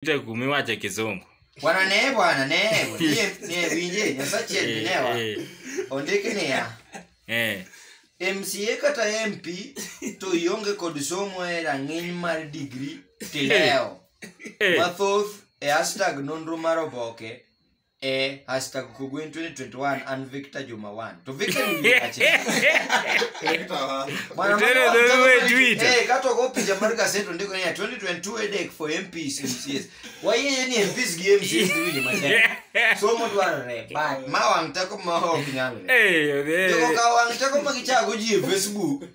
Peter Kumi wacho kizungu. Bwana ne bwana ne nie nie winje nyasachi Eh, endinewa. eh, Ondiki niya. eh. MCA kata MP to ionge kod somo e rang'iny mar digri tilewo. Eh, Mathoth e hashtag nonro mar oboke eh hashtag kugwin 2021 and victor juma 1 to victor ni ache Bwana, Tena mwana wa ndio mtazamo wewe ni- Twitter. eh kato go picha mar gaseto ndiko ni ya 2022 edek for MPs MCs wayeye ni MPs gi MCs ni matek somo dwarore but ma wang teko ma ok nyalre Eh, eh, Jogo ka wang teko ma gichago ji e Facebook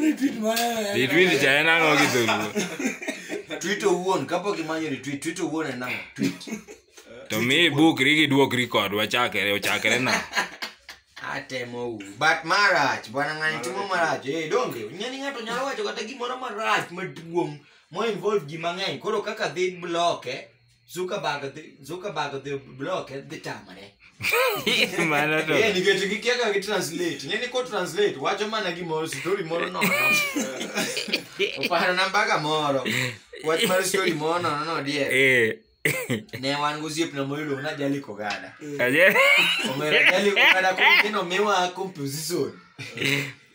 Retweet mara. Retweet cha en ang'o gi dholuo? Tweet owuon kapok imanyo retweet, tweet owuon en ang'o? Tweet. To mi ibukri gi duok record wachakre ochakre na. atemo u but marach bwana ng'ani timo marach eh donge nyani ng'ato nyalo wacho kata gimoro marach maduong' mo involve ji mang'eny koro kaka dhi bloke Zuckerberg dhi- Zuckerberg dhi block e, dhi tamore Mano to. Eh, nikech gikia ka gi translate ng'e ni ko translate wacho mana gimoro story moro nono oparo na mbaka moro wach mar story moro nono no die Eh. ne wan gosiepna moyudo na jali kogada Aje. omera jali kogada koro gino miwa composition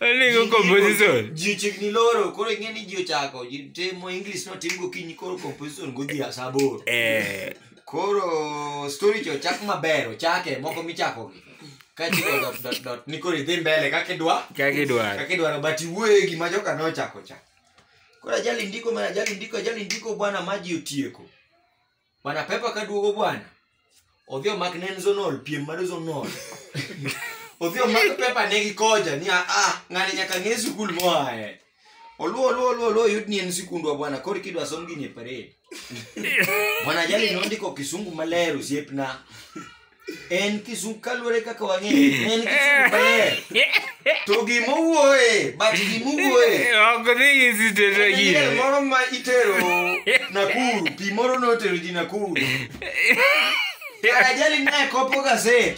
Oligo composition. ji ochiegni loro koro ing'e ni ji ochako ji timo english notim gokinyi koro composition godhi asa aboro Eh, koro story cha ochak maber ochake moko michako kachiko dot dot dot ni koro idhi mbele kaka idwa kaka idwaro. kaka idwaro but iwuoye gima joka nochako cha koro ajali ndiko ma ajali ndiko ajali ndiko bwana ma ji otieko bwana pepa kaduogo bwana odhi omak ne en zonol piem mar zonol odhi omak pepa ne gi koja ni ah, ah ng'ani nyaka ng'e sikul moae oluo oluo oluo oluo yud ni en sikundwa bwana koro kidwa som gini e parade bwana jali nondiko kisungu maler osiepna en kizungu kaluwore kaka wang'eyo en kizungu maler to gimowuoye but gimowuoye ok dhi gi sitete En gi miel moro ma itero Nakuru, pi moro notero ji Nakuru. Karajali naye kopo gaset.